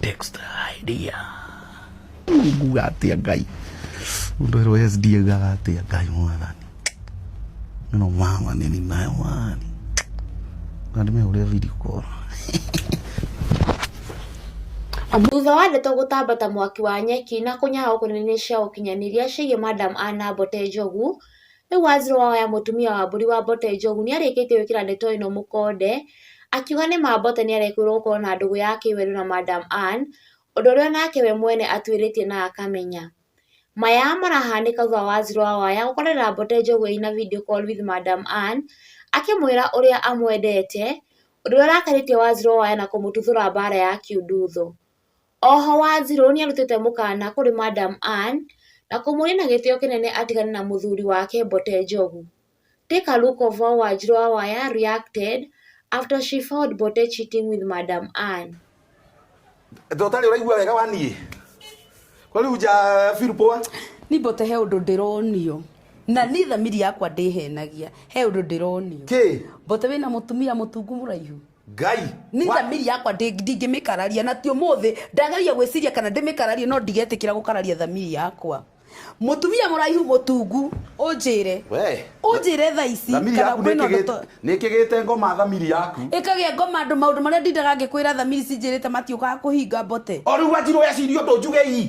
Dexter idea. Nguga atia ngai. Mundu ero yes dia gaga atia ngai mwathani. Mino mama nini nayo wani. Nandi me ule video call. Thutha wa ndeto gũtamba ta mwaki wa nyeki na kũnyaha kũnene cia ũkinyanĩria ciĩgiĩ Madam Anna Mbote Njogu, Rĩu Wanjirũ oya mũtumia wa mbũri wa Mbote Njogu nĩ arĩkĩtie gwĩkĩra ndeto ĩno mũkonde, akiuga nĩ ma Mbote nĩ arekũĩrwo gũkorwo na ndũgũ ya kĩwendo na Madam Ann, ũndũ ũrĩa onake we mwene atuĩrĩtie na akamenya. Maya marahanĩka thutha wa Wanjirũ wa waya gũkorera Mbote Njogu ĩna video call with Madam Ann, akĩmwĩra ũrĩa amwendete, ũndũ ũrĩa ũrakarĩtie Wanjirũ wa waya na kũmũtuthũra mbara ya kiundutho. Oho Wanjiru nĩarutĩte mũkana kũrĩ Madam Anne na kũmũria na gĩtĩo kĩnene atigane na mũthuri wake Mbote Njogu. Take a look of how Wanjiru wa Waya reacted after she found Mbote cheating with Madam Anne. Tondũ ũtarĩ ũraigua wega wa niĩ kwa rĩu nja feel poa Ni mbote he undu ndironio na ni thamiri yakwa ndihenagia he undu ndironio kĩ mbote wina mutumia mutungu muraihu ngai niĩ wa- thamiri yakwa ndĩ- ndingĩmĩkararia na ti ũmũthĩ ndageria gwĩciria kana ndĩmĩkararie no ndigetĩkĩra gũkararia thamiri yakwa mũtumia mũraihu mũtungu ũnjĩre we ũnjĩre tha ici thamiri kana yaku kwĩna ũndũ to- nĩkĩgĩte ngoma thamiri yaku ĩkagĩa ngoma andũ maũndũ marĩa ndindaga ngĩkwĩra thamiri cinjĩrĩte matiũkaga kũhinga mbote o rĩu wanjirwo eciria ũndũ njuge ii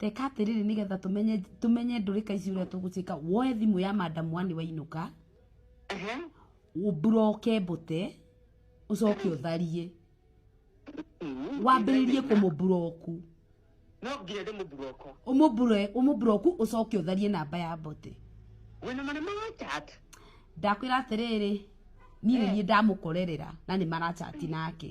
Teka atĩrĩrĩ nĩgetha tũmenye tũmenye ndũrĩka ici ũrĩa tũgũciĩka woe thimũ ya madam wani wainũka Ehe. ũbroke mbũte ũcoke ũtharie Mm. wambĩrĩrie kũmũburoku No nginya ndĩmũburoko. ũmũbure ũmũburoku ũcoke ũtharie namba ya mbote Wĩna marima wa chat. ndakwĩra atĩrĩrĩ niĩ nĩ niĩ ndamũkorerera na nĩ marachati nake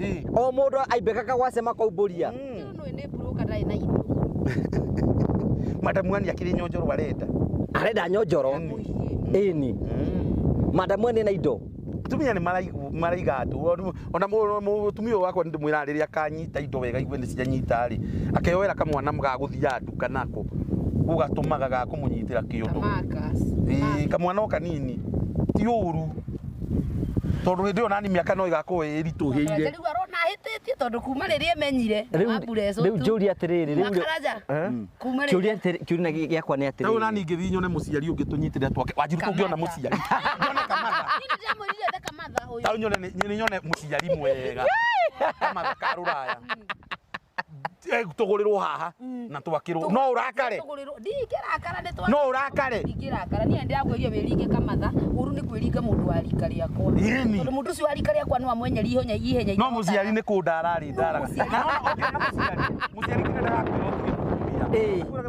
Ii. o mundu aimbika kagwa sema kwa uburia Ũyũ nũĩ nĩ mburũka ndarĩ na indo. madamu ani akiri nyonjoro arenda arenda nyonjoro Mũhiĩ. ini madamu ene na indo tumia nĩ maraigu- maraiga andũ Rĩu ona mũ- mũtumia ũyũ wakwa ndĩmwĩra rĩrĩa akanyita indo wega igue nĩ cianyita rĩ akeyoera kamwana gagũthiaga nduka nako ũgatũmaga gakũmũnyitĩra kĩondo Marcus. Ĩĩ, kamwana o kanini ti ũru tondå hä ndä ä yo nani mä aka no ä gakorwo ä ritåhä ire Rĩu arona ahĩtĩtie tondå kuma rĩrĩa emenyire na wambura ĩcũtũ. rĩu njũria atĩrĩrĩ rĩu rĩ- Makaraja. Eh? Kuma rĩrĩa- Kĩũria atĩrĩ- kĩũria gĩ- gĩakwa nĩ rä u nani atĩrĩrĩ ngä thiä nyone må ciari å ngä tå nyitä rä twake wanjiru tå ngä ona må ciari nyone kamatha Niĩ nĩndĩramwĩrire ete kamatha ũyũ. tau nyone nĩ- nĩ nyone må ciari mwega kamatha ka rå raya eh, tũgũrĩrwo haha na twakĩrwo no ũrakare Tũgũrĩrwo- ndingĩrakara nĩ twa- no ũrakare ndingĩrakara niĩ ndĩrakwĩria wĩringe kamatha ũru nĩ kwĩringa mũndũ wa rika rĩakwa Ĩni. tondũ mũndũ ũcio wa rika rĩakwa no amwenyeri ihenya ihenya no mũciari nĩ kũndara arĩ ndaraga Mũciari. Na no- okay, no mũciari mũciari nginya ndarakwĩra ũthiĩ mũtumia. Ĩĩ.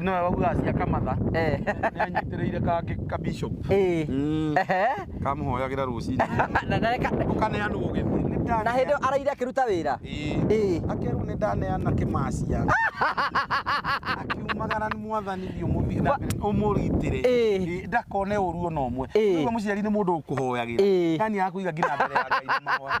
nĩwe waugaga cia kamatha Eh. nĩanyitĩrĩire kangĩ ka bishop Eh. Mm, Ehe. kamũhoyagĩra rũcinĩ Na ndareka- ũkaneanwo gĩthĩ Nĩ na hĩndĩ ĩyo ndaneana- araire akĩruta wĩra Ĩĩ. Ĩĩ. akerwo nĩ ndaneana kĩmacia akiumagara nĩ mwathani thiĩ ũmũthiĩ na mbere, ũmũgitĩre Ĩĩ. Ĩĩ, ndakone ũru ona ũmwe Ĩĩ. Nĩguo mũciari nĩ mũndũ ũkũhoyagĩra Ĩĩ. na nĩ akũiga nginya mbere ya Ngai na mahoya